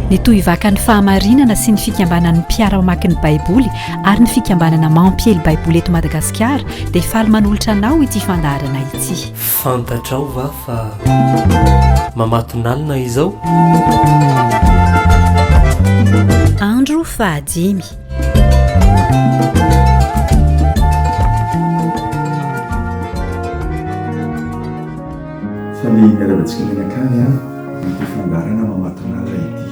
ny tohivakan'ny fahamarinana sy ny fikambanan'ny mpiara-mamaky ny baiboly ary ny fikambanana mampiely baiboly eto madagasikara dia faly manolotra anao ity fandaharana ity fantatrao va fa mamatonalina izao andro fahadimy Fa ny niaravantsika mianakavy an, mety fandaharana mamatonala ity.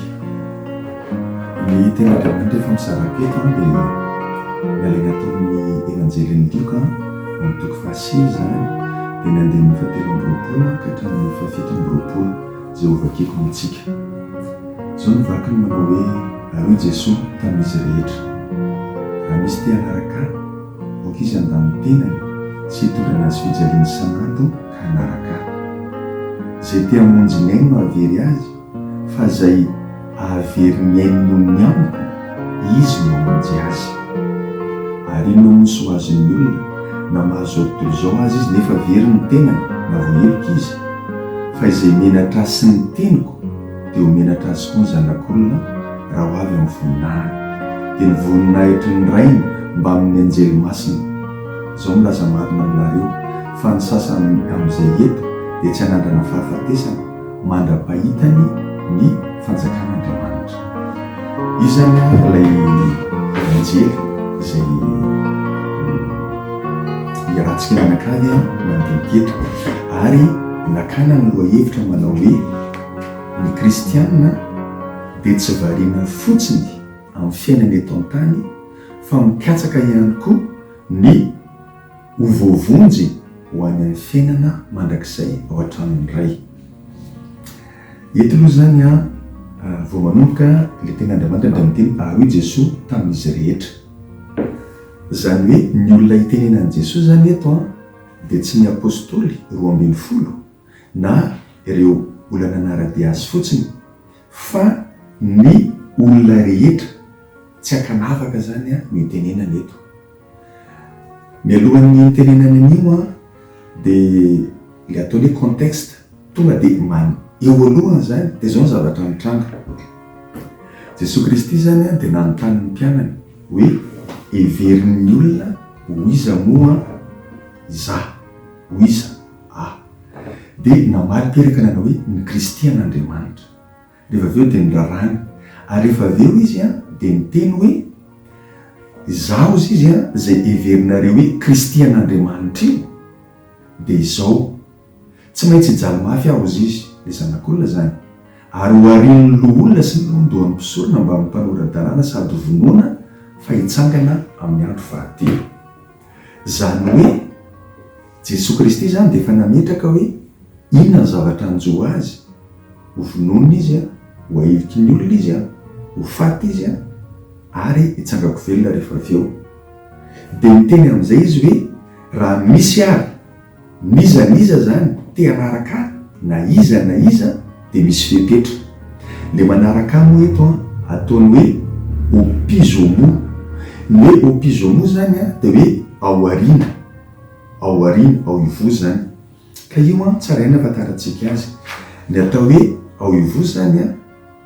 Ny Tenin'Andriamanitra efa mizara teto an dia nalaina tao amin'ny Evanjelin'i Lioka ao amin'ny toko fahasivy izany dia ny andininy fahatelo amby roapolo ka hatramin'ny fahafito amby roapolo izay ho vakiako amintsika. Izao no vakiny manao hoe, Ary hoy Jesoa tamin'izy rehetra, Raha misy te hanaraka Ahy, Boky izy handany tenany sy hitondra anazy fijaliana isan'andro ka hanaraka ahy. Izay te hamonjy ny ainy no hahavery azy fa izay hahavery ny ainy noho ny amiko, izy no hamonjy azy. Ary inona moa nosy ho azon'ny olona na mahazoa tontolo izao azy izy nefa very ny tenany na vao heloka izy? Fa izay menatra ahy sy ny teniko, dia ho menatra azy koa ny zanak'olona raha ho avy amin'ny voninahiny. Dia ny voninahitry ny Rainy mbamin'ny anjely masina. Izao milaza marina aminareo, fa ny sasany amin'izay eto dia tsy hanandrana fahafatesana mandra-pahitany ny fanjakan'Andriamanitra. Iza moa ilay anjely izay hiarantsika mianakavy mandinika eto? Ary nakana ny lohahevitra manao hoe. Ny kristiana dia tsy variana fotsiny amin'ny fiainana eto an-tany fa mikatsaka ihany koa ny ho voavonjy ho any amin'ny fiainana mandrakizay ao an-tranon'ny Ray. Eto aloha izany vao manomboka ilay tenin'Andriamanitra dia miteny ary hoy Jesoa tamin'izy rehetra. Izany hoe ny olona itenenan'i Jesoa izany eto dia tsy ny apostoly roa ambin'ny folo na ireo olana an'arabe azy fotsiny fa ny olona rehetra, tsy ankanavaka izany no hitenenana eto. Mialohan'ny hitenenana an'io dia ilay ataony hoe contexte, tonga dia man, eo alohany izany dia izao ny zavatra nitranga, Jesoa Kristy izany dia nanontany ny mpianany hoe heverin'ny olona ho iza moa izaho, ho iza? A. Dia namaly teraka nanao hoe, Ny Kristy an' Andriamanitra. Rehefa avy eo dia niraràny. Ary rehefa avy eo izy an, dia niteny hoe, Izaho hozy izy an, izay heverinareo hoe Kristy an' Andriamanitra io, dia izao, Tsy maintsy hijaly mafy aho hozy izy, ilay Zanak' olona izany, ary hoharian' ny loholona sy ny lohandohan' ny mpisorona mbamin' ny mpanora-dalàna sady hovonoina, fa hitsangana amin' ny andro fahatelo. Izany hoe, Jesoa Kristy izany dia efa nametraka hoe inona ny zavatra hanjo Azy, ho vonoina Izy, ho ahiviky ny olona Izy, ho faty Izy, ary hitsangako velona rehefa avy eo. Dia niteny amin'izay Izy hoe, Raha misy àry N'iza n'iza zany te hanaraka ahy na iza na iza de misy fepetra. Le manaraka ahy moa eto an ataony hoe opizomo. Ny hoe opizomo zany an de hoe ao aoriana, ao aoriana, ao ivoho zany. Ka io an tsara ihany ahafantarantsika azy. Ny atao hoe ao ivoho zany an,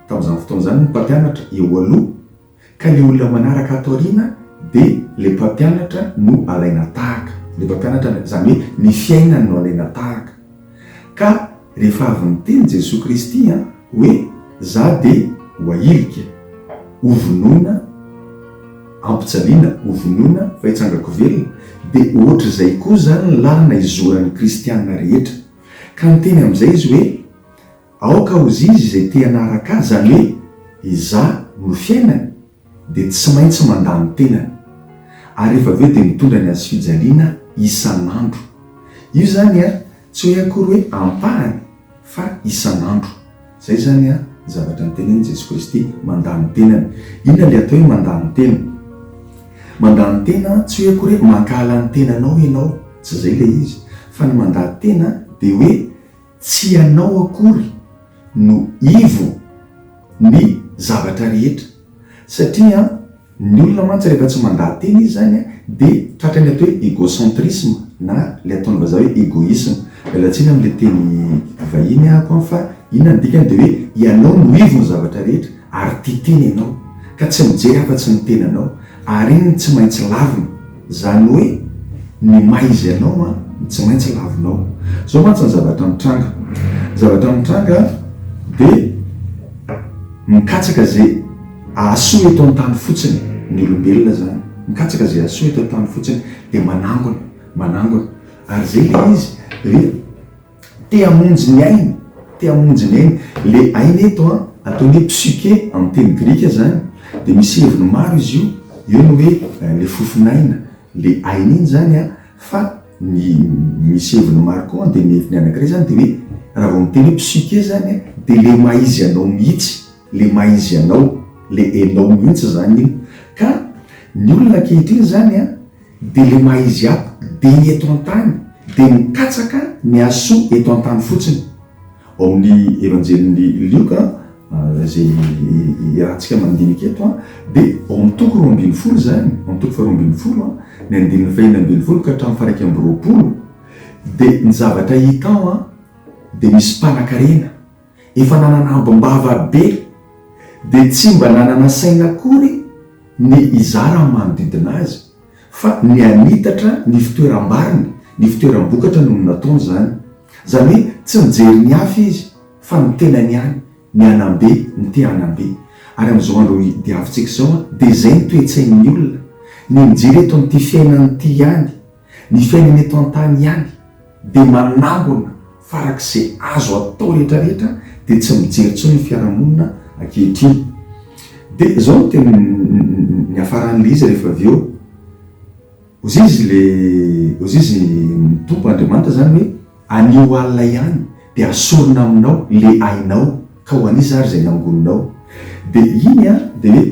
tamin'izany fotoana izany ny mpampianatra eo aloha. Ka le olona manaraka ato aoriana de le mpampianatra no alaina tahaka. Le mpampianatra izany hoe ny fiainany no alaina tahaka. Ka rehefa avy niteny Jesoa Kristy an, hoe za de ho ahilika, ho vonoina, ampijaliana, ho vonoina fa hitsangako velona, de ohatr'izay koa zany ny lalana izoran'ny kristiana rehetra. Ka niteny amin'izay izy hoe. Aoka hozizy izay te hanaraka Azy, izany hoe Izaho no fiainany, dia tsy maintsy mandà ny tenany. Ary rehefa avy eo dia mitondra ny hazofijaliana isan'andro. Io izany ary tsy hoe akory hoe ampahany fa isan'andro. Izay izany an, ny zavatra notenenin'i Jesoa Kristy, mandà ny tenany. Inona ilay atao hoe mandà ny tena? Mandà ny tena tsy hoe akory hoe mankahala ny tenanao ianao, tsy izay ilay izy, fa ny mandà tena dia hoe Tsy ianao akory no ivo ny zavatra rehetra satria ny olona mantsy rehefa tsy mandà tena izy zany de tratran'ny atao hoe egocentrisme na le ataon'ny vazaha hoe egoisme. Miala tsiny amle teny vahiny aho fa inona ny dikany de hoe ianao no ivo ny zavatra rehetra. ary tia tena ianao ka tsy mijery afa-tsy ny tenanao ary iny no tsy maintsy lavina, izany hoe ny maha izy anao an no tsy maintsy lavinao. Izao mantsy ny zavatra mitranga, ny zavatra mitranga dia mikatsaka izay ahasoa eto an-tany fotsiny ny olombelona izany, mikatsaka izay ahasoa eto an-tany fotsiny dia manangona, manangona ary izay ilay izy dia Te hamonjy ny ainy, te hamonjy ny ainy. Le aina eto an, atao ny hoe psykè amin'ny teny grika zany, dia misy heviny maro izy io, eo ny hoe le fofon'aina, le aina iny zany an, fa ny misy heviny maro koa dia ny heviny anankiray zany dia hoe, raha vao miteny hoe psykè zany an, dia le maha izy anao mihitsy, le maha izy anao, le enao mihitsy zany iny. Ka ny olona ankehitriny zany an, Dia le maha izy app dia ny eto an-tany dia ny katsaka ny azo soa eto an-tany fotsiny. Ao amin'ny Evanjelin'i Lioka izay iarahantsika mandinika eto dia ao amin'ny toko roa ambin'ny folo izany, ao amin'ny toko faharoa ambin'ny folo ny andininy fahenina ambin'ny folo ka hatramin'ny faha-iraika amby roapolo dia ny zavatra hita ao dia misy mpanankarena, efa nanana ambim-bava be dia tsy mba nanana saina akory ny hizara amin'ny manodidina azy fa ny hanitatra ny fitoeram-bariny, ny fitoeram-bokatra no nataony izany. Izany hoe tsy nijery ny hafa izy fa ny tenany ihany, ny hanam-be, ny te hanam-be. Ary amin'izao andro diavintsika izao dia izay ny toe-tsain'ny olona, ny mijery eto amin'ity fiainana ity ihany. Ny fiainana eto an-tany ihany dia manangona farak'izay azo atao rehetra rehetra dia tsy mijery intsony ny fiarahamonina ankehitriny. Dia izao no tena niafaran'ilay izy rehefa avy eo. Hozizy ilay, hozizy ny Tompo Andriamanitra izany hoe, anio alina ihany dia hasorina aminao ilay ainao ka ho an'iza ary izay nangoninao. Dia iny dia hoe,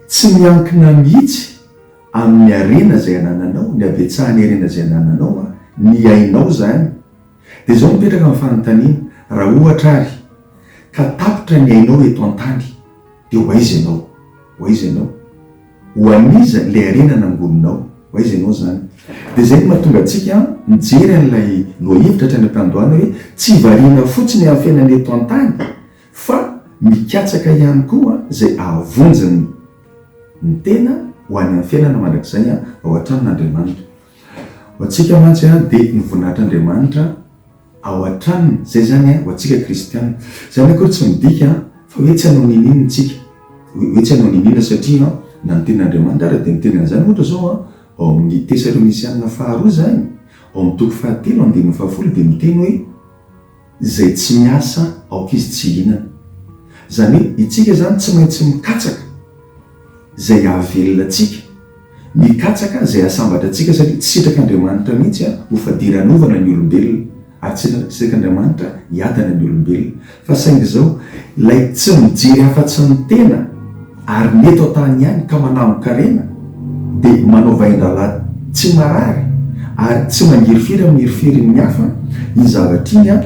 tsy miankina mihitsy Amin'ny harena izay anananao, ny habetsahan'ny harena izay anananao an, ny ainao izany. Dia izao mipetraka ny fanontaniana, raha ohatra ary ka tapitra ny ainao eto an-tany, dia ho aiza ianao? Ho aiza ianao? Ho an'iza ilay harena nangoninao? Ho aiza ianao izany? Dia izay no mahatonga antsika mijery an'ilay lohahevitra hatrany am-piandohana hoe, tsy variana fotsiny amin'ny fiainana eto an-tany fa mikatsaka ihany koa izay ahavonjin'ny. Ny tena ho any amin'ny fiainana mandrakizay ao an-tranon'Andriamanitra. Ho antsika mantsy dia ny voninahitr'Andriamanitra ao an-tranony, izay izany ho antsika kristiana. Izany akory tsy midika fa hoe tsy hanao nini ny tsika, hoe tsy hanao nini na satria na ny tenin'Andriamanitra ary dia miteny an'izany ohatra izao ao amin'ny Tesalonisianina faharoa izany, ao amin'ny toko fahatelo andininy fahafolo dia miteny hoe. Izay tsy miasa aoka izy tsy hihinana. Izany hoe itsika izany tsy maintsy mikatsaka izay hahavelona antsika, mikatsaka izay hahasambatra antsika satria tsy sitrak'Andriamanitra mihitsy ho fadiranovana ny olombelona ary tsy sitrak'Andriamanitra hiadana ny olombelona. Fa saingy izao, ilay tsy mijery afa-tsy ny tena. Ary ny eto an-tany ihany ka manambo-karena dia manao vahindrahalahy tsy marary ary tsy mangirifiry amin'ny heriferin'ny hafa iny zavatra iny an!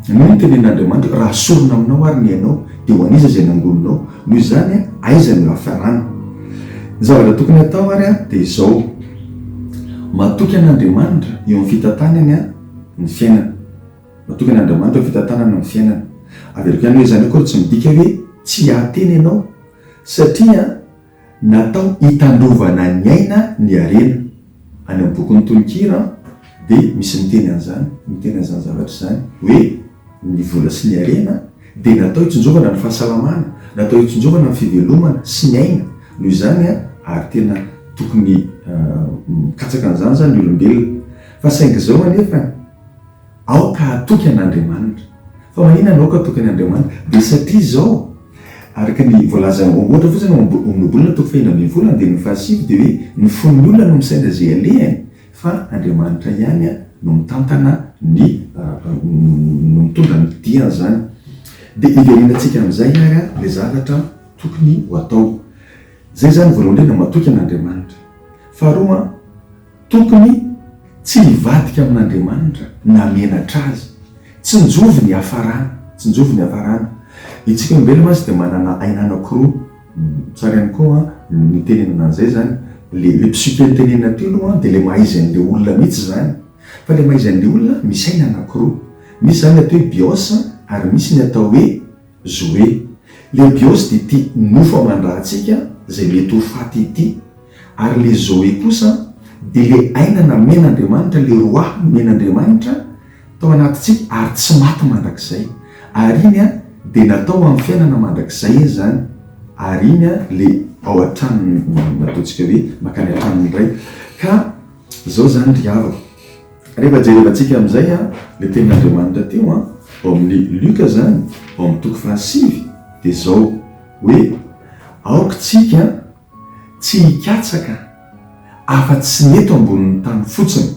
Noho ny tenen'Andriamanitra hoe, Raha sorona aminao àry ny ainao, dia ho an'iza izay nangoninao? Noho izany, aiza no hiafarana? Ny zavatra tokony hatao àry dia izao, Matoky an'Andriamanitra eo amin'ny fitantanany ny fiainana. Natokan'Andriamanitra ho fitantanana ny fiainana. Averiko ihany hoe izany akory tsy midika hoe tsy hiahatena ianao, satria natao hitandrovana ny aina ny harena. Any amin'ny bokin'ny tononkira dia misy miteny an'izany, miteny an'izany zavatra izany hoe ny vola sy ny harena dia natao hitsinjovana ny fahasalamana, natao hitsinjovana ny fivelomana sy ny aina. Noho izany ary tena tokony mikatsaka an'izany izany ny olombelona. Fa saingy izao anefa. Aoka hatoky an' Andriamanitra. Fa maninona no aoka hatoky an' Andriamanitra? Dia satria izao, araka ny voalazan' ny ohatra fotsiny ao am-boky Baibolina toko fahefatra ambin'ny folo andininy fahasivy dia hoe ny fon' ny olona no misaina izay alehany fa Andriamanitra ihany no mitantana ny no mitondra ny dian' izany. Dia hiverinantsika amin' izay ary ilay zavatra tokony ho atao. Izay izany voalohany indrindra matoky an' Andriamanitra. Faharoa. Tokony tsy nivadika amin'Andriamanitra namenatra azy. Tsinjovy ny hafarana, tsinjovy ny hafarana. Itsika olombelona mantsy dia manana aina anakiroa, tsara ihany koa ny mitenenana an'izay izany, le le psyque nitenenina teo aloha dia le mahaizain'le olona mihitsy izany, fa le mahaizain'le olona misy aina anakiroa, misy izany atao hoe bios ary misy ny atao hoe. Zoé, le bios dia ity nofo aman-dra antsika izay mety ho faty ity, ary le Zoé kosa dia le aina namen' Andriamanitra, le roah nomen' Andriamanitra tao anatintsika ary tsy maty mandrakizay, ary iny an dia natao ho amin'ny fiainana mandrakizay izy izany, ary iny an le ao an-tranony, nataontsika hoe makany an-tranony indray, ka izao izany ry havako. Rehefa jerevantsika amin'izay ilay tenin'Andriamanitra teo ao amin'ny Luka izany, ao amin'ny toko fahasivy, dia izao hoe, Aoka isika tsy hikatsaka afa-tsy ny eto ambonin'ny tany fotsiny,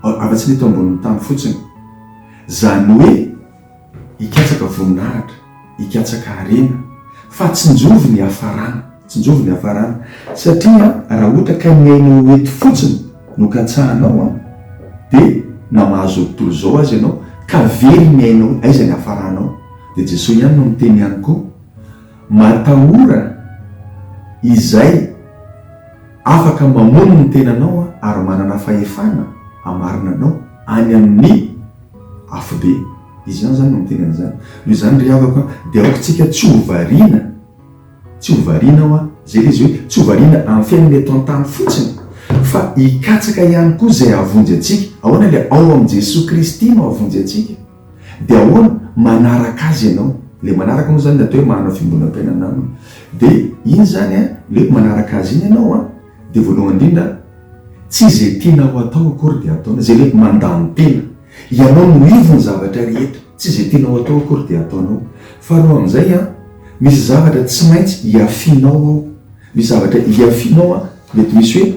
afa-tsy ny eto ambonin'ny tany fotsiny, izany hoe, Hikatsaka voninahitra, hikatsaka harena, fa tsinjovy ny hafarana, tsinjovy ny hafarana, satria raha ohatra ka ny ainao ho eto fotsiny no katsahanao dia na mahazo ny tontolo izao aza ianao ka very ny ainao hoe aiza ny hafaranao dia Jesoa ihany no miteny ihany koa matahora izay afaka mamono ny tenanao ary manana fahefana hamarina anao any amin'ny Afobe, izy ihany izany no miteny an'izany. Noho izany ry havako a, dia aoka isika tsy ho variana, tsy ho variana aho a, izay ilay izy hoe tsy ho variana amin'ny fiainana eto an-tany fotsiny, fa hikatsaka ihany koa izay hahavonjy antsika. Ahoana ilay ao amin'i Jesoa Kristy no hahavonjy antsika? Dia ahoana? Manaraka Azy ianao. Ilay manaraka moa izany ny atao hoe manana fiombonam-piainana Aminy. Dia iny izany a, ilay hoe manaraka Azy iny ianao a. Dia voalohany indrindra, tsy izay tianao atao akory dia ataonao, izay hoe mandany tena. Ianao no ivon'ny zavatra rehetra, tsy izay tianao atao akory dia ataonao. Faharoa amin'izay, misy zavatra tsy maintsy hiafianao ao, misy zavatra hiafianao, mety misy hoe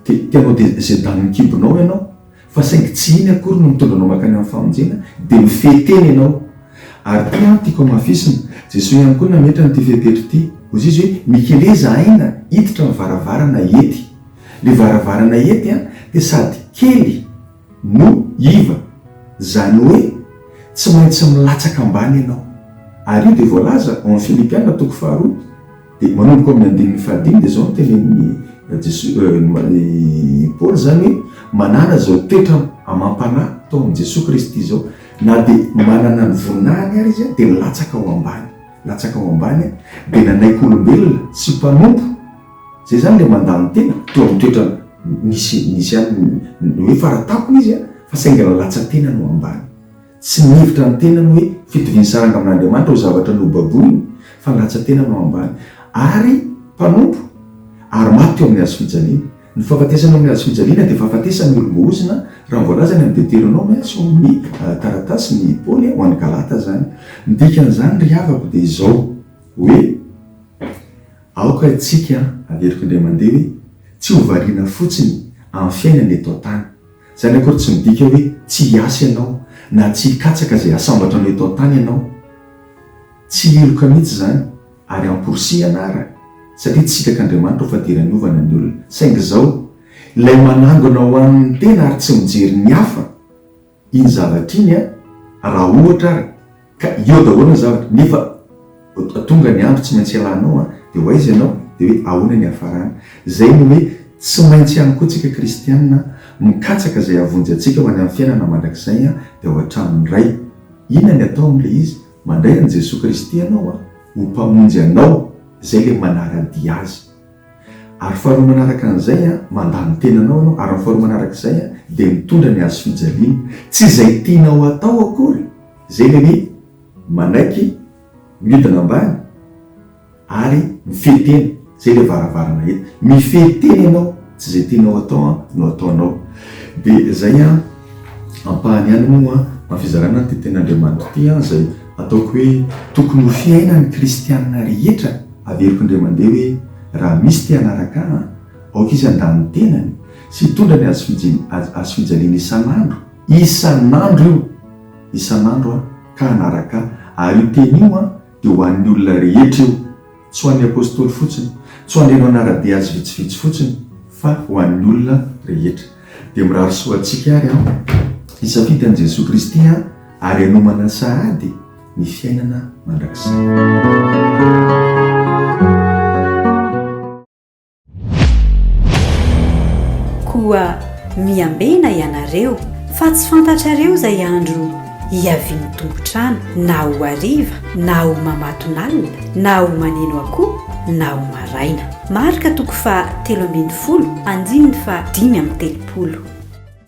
te-te hanao dia izay danin'ny kibonao ianao, Fa saingy tsy iny akory no mitondra anao mankany amin'ny famonjena, dia mifehy tena ianao. Ary ity no tiako hamafisina, Jesoa ihany koa nametrany ity fepetra ity. Hoy Izy hoe, Mikeleza aina hiditra ny varavarana ety. Ilay varavarana ety dia sady kely no iva, izany hoe tsy maintsy milatsaka ambany ianao. Ary io dia voalaza ao amin'ny Filipiana toko faharoa. Dia manomboka ao amin'ny andininy fahadimy dia izao no tenenin'i Jesoa, Paoly izany hoe, manana izao toetra amam-panahy tao amin'i Jesoa Kristy izao, na dia manana ny voninahiny ary izy dia nilatsaka ho ambany, nilatsaka ho ambany, dia nanaiky olombelona sy mpanompo, izay izany ilay mandany tena, teo amin'ny toetra nisy, nisy ihany ny hoe fara tampony izy fa saingy nalatsa-tenany ho ambany. Tsy mihevitra ny tenany hoe fitoviany saranga amin'Andriamanitra ho zavatra nobaboiny, fa ny ratsan-tenany no ambany. Ary mpanompo, ary maty teo amin'ny hazo fijaliana. Ny fahafatesana eo amin'ny hazo fijaliana dia fahafatesan'ny olom-bohozina, raha ny voalazany amin'ny Deteronoma sy ao amin'ny taratasin'i Paoly ho an'ny Galata izany. Ny dikan'izany, ry havako, dia izao, hoe, Aoka isika haveriko indray mandeha hoe, tsy ho variana fotsiny amin'ny fiainana eto an-tany. Izany akory tsy midika hoe tsy hiasa ianao na tsy hikatsaka izay hasambatra anao eto an-tany ianao. Tsy hiloka mihitsy izany, ary amporisihana àry, satria tsy sitr'Andriamanitra ho fadiran'ny ovana ny olona. Saingy izao, Ilay manangona ho an'ny tena ary tsy mijery ny hafa, iny zavatra iny, raha ohatra ary, Ka eo daholo ny zavatra, nefa tonga ny andro tsy maintsy hialanao an, dia ho aiza ianao? Dia hoe ahoana ny hiafarana? Izay ny hoe tsy maintsy ihany koa tsika kristiana mikatsaka izay hahavonjy antsika ho any amin'ny fiainana mandrakizay an, dia ao an-tranon'ny Ray. Inona ny atao amin'ilay izy? Mandray an'i Jesoa Kristy ianao an, ho Mpamonjy anao, izay ilay manara-dia Azy. Ary faharoa manaraka an'izay an, mandà ny tenanao ianao, ary ny faharoa manaraka izay an, dia mitondra ny hazofijaliana. Tsy izay tianao hatao akory. Izay nini manaiky miodina ambany ary mifehy tena, izay ilay varavarana eto. Mifehy tena ianao, tsy izay tianao atao no ataonao. Dia izay ampahany ihany moa amin'ny fizarana an'ity Tenin'Andriamanitra ity izay ataoko hoe tokony ho fiainan'ny kristiana rehetra averiko indray mandeha hoe raha misy te hanaraka ahy, aoka izy handà ny tenany sy hitondra ny hazofijaliany isan'andro. Isan'andro io, isan'andro an, ka hanaraka Ahy. Ary io teny io an, dia ho an'ny olona rehetra io. Tsy ho an'ny apostoly fotsiny, tsy ho an'ireo nanara-dia Azy vitsivitsy fotsiny, fa ho an'ny olona rehetra. Dia mirary soa antsika àry an, hisafidy an'i Jesoa Kristy an, ary hanomana sahady ny fiainana mandrakizay. Koa miambena ianareo, fa tsy fantatrareo izay andro hiavian'ny tompon-trano, na ho hariva, na ho mamatonalina, na ho maneno akoho, na ho maraina. Marka toko faha telo ambin'ny folo, andininy faha dimy amby telopolo.